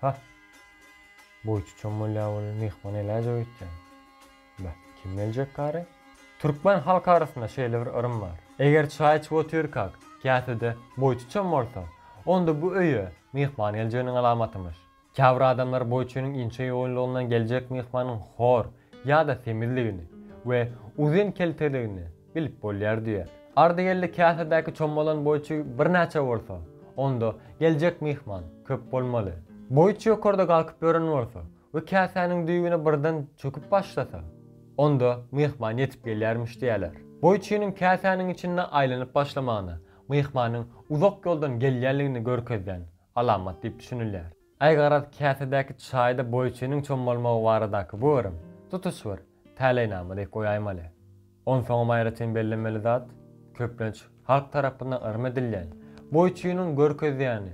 Hah! Boýçy çommalýa weli, myhman eläýjek öýtýän. Bä, kim geljek kary? Türkmen halk arasynda şeýle bir yrym bar. Eger çaý içip otyrkak, käsede boýçy çommalsa, onda bu öýe myhman geljeginiň alamatymyş. Käbir adamlar boýçynyň inçe ýoýunlygyndan geljek myhmanyň hor ýa-da semizligini we uzyn kelteligini, Bilip bolýar diýer. Ardygeldi käsedäki çommalan boýçy birnäçe bolsa, onda geljek myhman köp bolmaly. Boýçy ýokarda galkyp ýören bolsa we käsäniň düýbüne birden çöküp başlasa, onda myhman ýetip gelýärmiş diýerler. Boýçynyň käsäniň içinde aýlanyp başlamagyna myhmanyň uzak ýoldan gelýänligini görkezýän alamat diýip düşünilýär. Äý garaz käsedäki çaýda boýçynyň çom bolmagy baradaky bu yrym, tutuş bir, täleýnama diýip goýaýmaly. Onsoňam aýratyn bellemeli zat, köplenç, halk tarapyndan yrym edilýän, boýçynyň görkezýäni,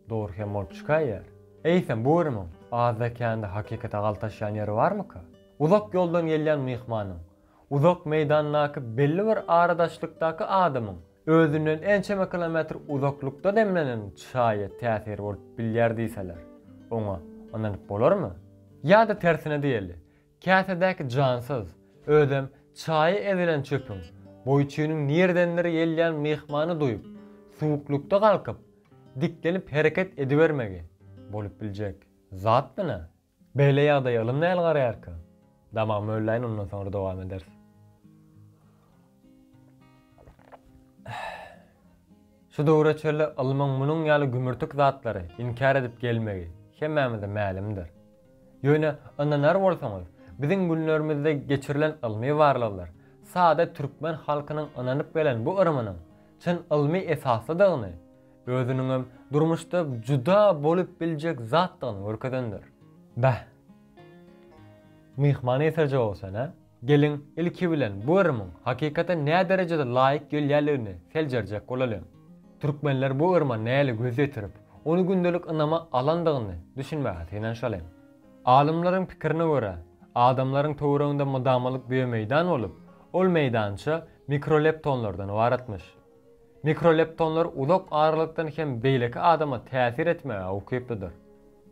dogry hem bolup çykaýýar. Eýsem, bu yrymyň, azda-kände hakykata galtaşýan ýeri barmyka? Uzak ýoldan gelýän myhmanyň, Uzak meýdandaky belli bir aradaşlykdaky adamyň özünden ençeme kilometr uzaklykda demlenen çaýy täsir bolup bilýär diýseler, oňa ynanyp bolarmy? Ýa-da tersine diýeli, käsedäki jansyz, özem çaýy ezilen çöpüň boý-çüýniň nirdendir gelýän myhmany duýup, suwuklykda galkyp, diklenip hereket edibermegi bolup biljek zatmy nä? Beýle ýagdaýa ylym näl garaýarka? Damagy mölläýin ondan soňra dowam ederis. Şu döwre çenli ylmyň munuň ýaly gümürtik zatlary inkär edip gelmegi hemmämize mälimdir. Ýöne ynanar bolsaňyz, biziň günlerimizde geçirilen ylmy barlaglar sada türkmen halkynyň ynanyp gelen bu yrymynyň çyn ylmy esaslydygyny Özüniňem durmuşda juda bolup biljek zatdygyny görkezendir. Bäh. Myhman eserje bolsan-a. Geliň, ilki bilen bu yrymyň hakykata näderejede laýyk gelýänligini seljerjek bolalyň. Türkmenler bu yrma nähili göz ýetirip, ony gündelik ynama alandygyny düşünmäge synanyşalyň. Alymlaryň pikirine görä, adamlaryň töwereginde mydamalyk düýemeýdan bolup, ol meýdança mikroleptonlardan ybaratmyş. Mikroleptonlar uzak aralykdan hem beýleki adama täsir etmäge ukyplydyr.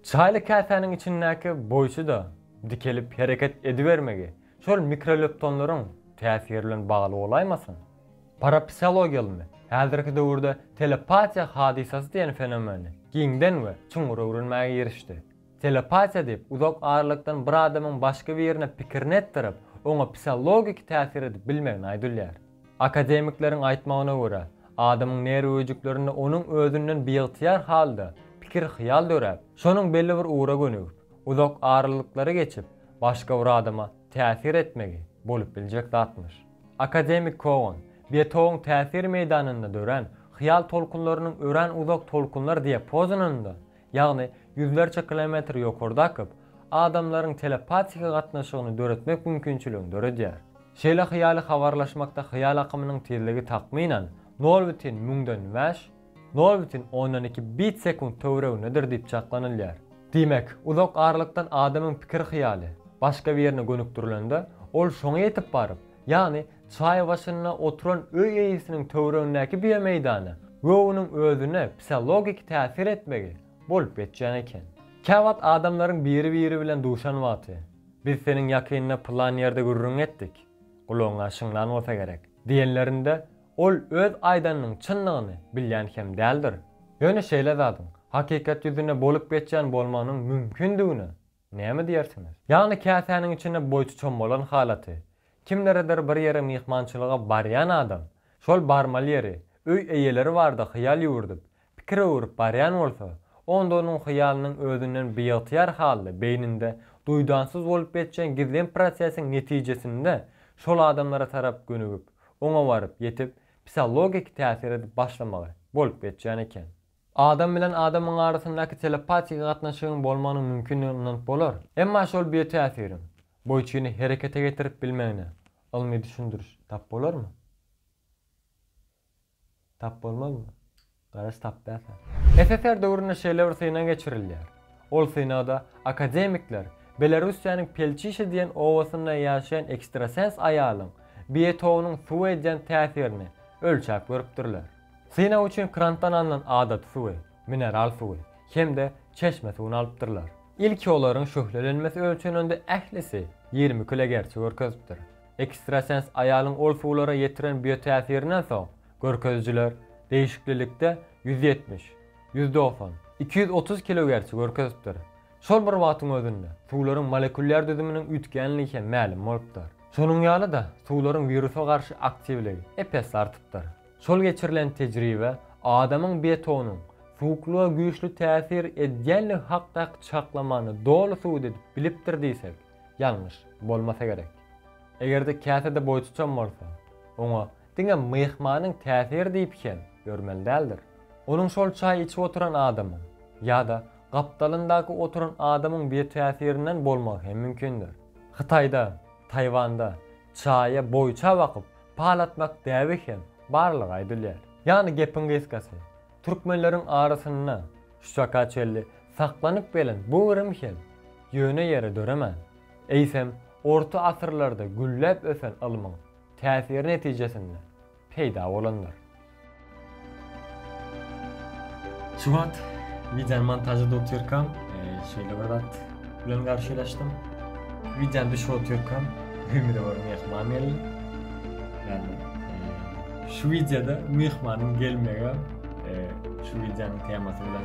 Çaýly käsäniň içindäki boýçuda dikelip hereket edibermegi şol mikroleptonlaryň täsiri bilen bagly bolaýmasyn? Parapsihologiýalymy häzirki döwürde telepatiýa hadysasy diýen fenomeni giňden we çuňňur öwrenmäge girişdi. Telepatiýa diýip, uzak aralykdan bir adamyň başga birine pikirini etdirip, oňa psiologiki täsir edip bilmegine aýdylýar. Akademikleriň aýtmagyna görä, adamyň nerw öýjüklerinde onuň özünden biygtyýar halda pikir-hyýal döräp, şonuň belli bir ugra gönügip, uzak aralyklary geçip, başga bir adama täsir etmegi bolup biljek zatmyş. Akademik Kogan, Betowyň täsir meýdanynda dörän hyýal tolkunlarynyň örän uzak tolkunlar diapozonynda ýagny ýüzlerçe kilometr ýokarda akyp, adamlaryň telepatiki gatnaşygyny döretmek mümkinçiligini döredýär. Şeýle hyýaly habarlaşmakda hyýal akymynyň tizligi takmynan nol bütin müňden bäş, nol bütin ondan iki bit sekunt töweregindedir diýip çaklanylýar. Diýmek, uzak aralykdan adamyň pikir-hyýaly başga birine gönükdirilende, ol şoňa ýetip baryp, Ýagny, çaý başynda oturan öý eýesiniň töweregindäki biomeýdana we onuň özüne psihologiki täsir etmegi bolup geçýän eken. Käwagt adamlaryň biri-biri bilen duşan wagty, Biz seniň ýakynda pylan ýerde gürrüň etdik, gulagyňa şyňlan bolsa gerek, diýenlerinde, ol öz aýdanynyň çyndygyny bilýän hem däldir. Ýöne şeýle zadyň hakykat ýüzünde bolup geçýän bolmagynyň mümkindigine Näme diýersiňiz? Ýagny käsäniň içinde boýtuçam bolan halaty. Kimleredir bir ýere myhmançylyga barýan adam, şol barmaly ýeri, öý eýeleri barada hyýal ýüwürdip, pikir öwürip barýan bolsa, onda onuň hyýalynyň özünden biygtyýar halda beýninde duýdansyz bolup geçýän gizlin prosesiň netijesinde şol adamlara tarap gönügip, oňa baryp ýetip, psihologiki täsir edip başlamagy bolup geçýän eken. Adam bilen adamyň arasyndaky telepatiki gatnaşygyň bolmagynyň mümkindigine ynanyp bolar. Emma şol biotäsiriň bu üçini herekete getirip bilmegine ylmy düşündiriş tap bolarmy? Tap bolmazmy? Garaş tap dälkä? SSR döwründe şeýle bir synag geçirilýär. Ol synagda akademikler Belarussiýanyň Pelçişe diýen obasynda ýaşaýan ekstrasens aýalyň biotogynyň suwa edýän täsirini ölçäp görüpdirler. Synag üçin krantdan alnan adaty suwy, mineral suwy hem-de çeşme suwuny alypdyrlar. Ilki olaryň şöhlelenmesi ölçenende ählisi ýigrimi kilogerti görkezipdir. Ekstrasens aýalyň ol suwlara ýetiren biotäsirinden soň görkezijiler degişiklilikde ýüz ýetmiş, ýüz dogsan, iki ýüz otuz kilogerti görkezipdir. Şol bir wagtyň özünde suwlaryň molekulýar düzüminiň üýtgänligi hem mälim bolupdyr. Şonuň ýaly-da, suwlaryň wirusa garşy aktiwligi ep-esli artypdyr. Şol geçirilen tejribe adamyň betonyň suwuklyga güýçli täsir edýändigi hakdaky çaklamany doly subut edip bilipdir diýsek, ýalňyş bolmasa gerek. Eger-de käse-de boýçuçam bolsa, oňa diňe myhmanyň täsiri diýip hem ýörmeli däldir. Onuň şol çaý içip oturan adamyň ýa-da gapdalyndaky oturan adamyň biotäsirinden bolmagy hem mümkindir. Hytaýda, Taýwanda, Çaýa boýça bakyp, pal atmak däbi hem barlygy aýdylýar. Ýagny gepiň gysgasy, türkmenleriň arasynda şuka çenli saklanyp gelen bu yrym hem ýöne ýere döremän, eýsem, orta asyrlarda gülläp ösen ylmyň täsiri netijesinde, peýda bolandyr. Şu wagt wideony montažlap otyrkam, şeýle bir zat bilen garşylaşdym. Wideony düşürip otyrkam, öýümize bir myhman geldi. Ýagny, şu wideoda myhmanyň gelmegi şu wideonyň temasy bilen